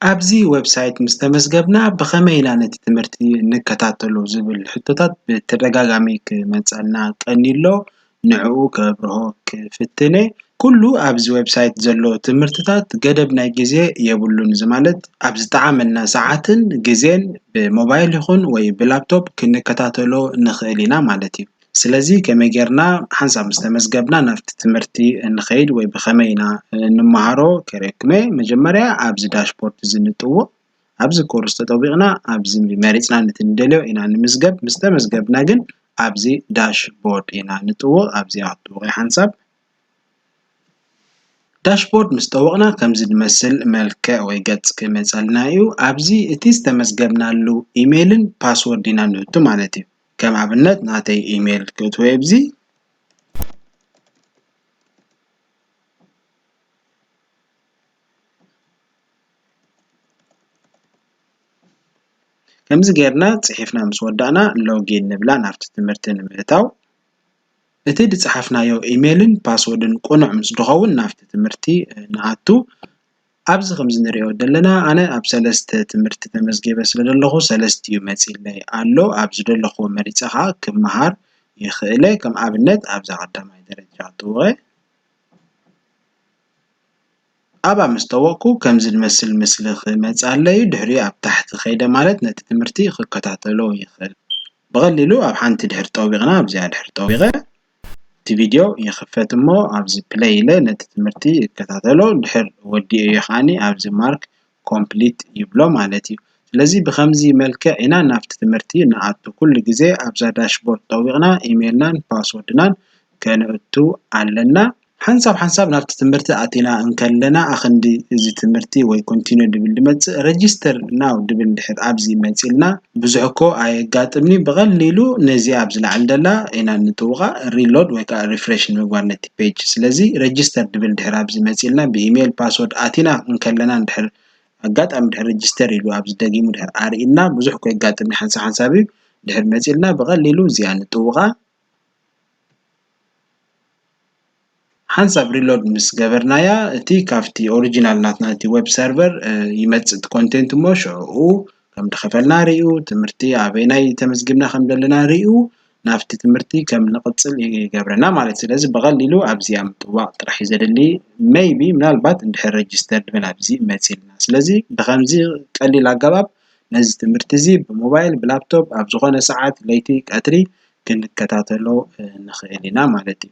ኣብዚ ወብሳይት ምስ ተመዝገብና ብኸመይ ኢና ነቲ ትምህርቲ እንከታተሎ ዝብል ሕቶታት ብተደጋጋሚ ክመጸና ቀንዩ ኣሎ ንዕኡ ከብርሆ ክፍትን እየ ኩሉ ኣብዚ ወብሳይት ዘሎ ትምህርትታት ገደብ ናይ ግዜ የብሉን እዚ ማለት ኣብ ዝጠዓመና ሰዓትን ግዜን ብሞባይል ይኹን ወይ ብላፕቶፕ ክንከታተሎ ንኽእል ኢና ማለት እዩ። ስለዚ ከመይ ጌርና ሓንሳብ ምስ ተመዝገብና ናብቲ ትምህርቲ እንኸይድ ወይ ብኸመይ ኢና እንመሃሮ ከርእየኩም'የ። መጀመርያ ኣብዚ ዳሽቦርድ እዚ ንጥውቕ። ኣብዚ ኮርስ ተጠዊቕና ኣብዚ መሪጽና ነቲ ንደልዮ ኢና ንምዝገብ። ምስ ተመዝገብና ግን ኣብዚ ዳሽቦርድ ኢና ንጥውቕ። ኣብዚኣ ክትጥውቑ'የ ሓንሳብ። ዳሽቦርድ ምስ ጠወቕና ከምዚ ዝመስል መልክዕ ወይ ገጽ ክመጸልና እዩ። ኣብዚ እቲ ዝተመዝገብናሉ ኢሜይልን ፓስወርድ ኢና ንእቱ ማለት እዩ። ከም ኣብነት ናተይ ኢሜል ክእትወዮ ኣብዚ ከምዚ ጌርና ጽሒፍና ምስ ወዳእና ሎጊን ንብላ ናብቲ ትምህርቲ ንምእታው እቲ ዝጸሓፍናዮ ኢሜልን ፓስወርድን ቅኑዕ ምስ ዝኸውን ናብቲ ትምህርቲ ንኣቱ። ኣብዚ ከም እንሪኦ ዘለና ኣነ ኣብ ሰለስተ ትምህርቲ ተመዝጊበ ስለ ዘለኩ ሰለስቲኡ መፂለይ ኣሎ ኣብ ዝደለኩዎ መሪፀ ከዓ ክመሃር ይክእል እየ ከም ኣብነት ኣብዛ ቀዳማይ ደረጃ ተውበ ኣብኣ ምስ ተወብኩ ከምዚ ዝመስል ምስሊ ክመፀለይ እዩ ድሕሪኡ ኣብ ታሕቲ ከይደ ማለት ነቲ ትምህርቲ ክከታተሎ ይክእል ብቀሊሉ ኣብ ሓንቲ ድሕሪ ጠዊቅና ኣብዚኣ ድሕሪ ጠዊቀ እቲ ቪድዮ ይኽፈት እሞ ኣብዚ ፕለይ ኢለ ነቲ ትምህርቲ እከታተሎ ድሕር ወዲኤዮ ከኣኒ ኣብዚ ማርክ ኮምፕሊት ይብሎ ማለት እዩ ስለዚ ብኸምዚ መልክዕ ኢና ናብቲ ትምህርቲ ንኣቱ ኩሉ ግዜ ኣብዛ ዳሽ ቦርድ ጠዊቕና ኢሜልናን ፓስወርድናን ከነእቱ ኣለና። ሓንሳብ ሓንሳብ ናብቲ ትምህርቲ ኣቲና እንከለና ኣክንዲ እዚ ትምህርቲ ወይ ኮንቲኖ ድብል ድመጽእ ረጅስተር ናው ድብል ድሕር ኣብዚ መጺልና ብዙሕ እኮ ኣየጋጥምንዩ ብቀሊሉ ነዚ ኣብዚ ላዕሊ ደላ ኢና ንጥውቃ ሪሎድ ወይ ከኣ ሪፍረሽ ንምግባር ነቲ ፔጅ ስለዚ ረጅስተር ድብል ድሕር ኣብዚ መጺልና ብኢሜል ፓስወርድ ኣቲና እንከለና ድሕር ኣጋጣሚ ድሕር ረጅስተር ኢሉ ኣብዚ ደጊሙ ድሕር ኣርኢና ብዙሕ እኮ የጋጥምኒ ሓንሳብ ሓንሳብዩ ድሕር መጺልና ብቀሊሉ እዚኣ ንጥውቃ ሓንሳብ ሪሎድ ምስ ገበርናያ እቲ ካብቲ ኦሪጂናል ናትና እቲ ዌብ ሰርቨር ይመጽእ እቲ ኮንቴንት እሞ ሽዑኡ ከም ዝኸፈልና ርእዩ ትምህርቲ ኣበየናይ ተመዝጊብና ከም ዘለና ርእዩ ናብቲ ትምህርቲ ከም ንቕጽል ይገብረና ማለት እዩ። ስለዚ ብቐሊሉ ኣብዚኣ ምጥዋቕ ጥራሕ እዩ ዘድሊ ሜይቢ ምናልባት እንድሕር ረጅስተርድ ኮይና ኣብዚ መጺእና ስለዚ ብኸምዚ ቀሊል ኣገባብ። ነዚ ትምህርቲ እዚ ብሞባይል ብላፕቶፕ ኣብ ዝኾነ ሰዓት ለይቲ ቀትሪ ክንከታተሎ ንኽእል ኢና ማለት እዩ።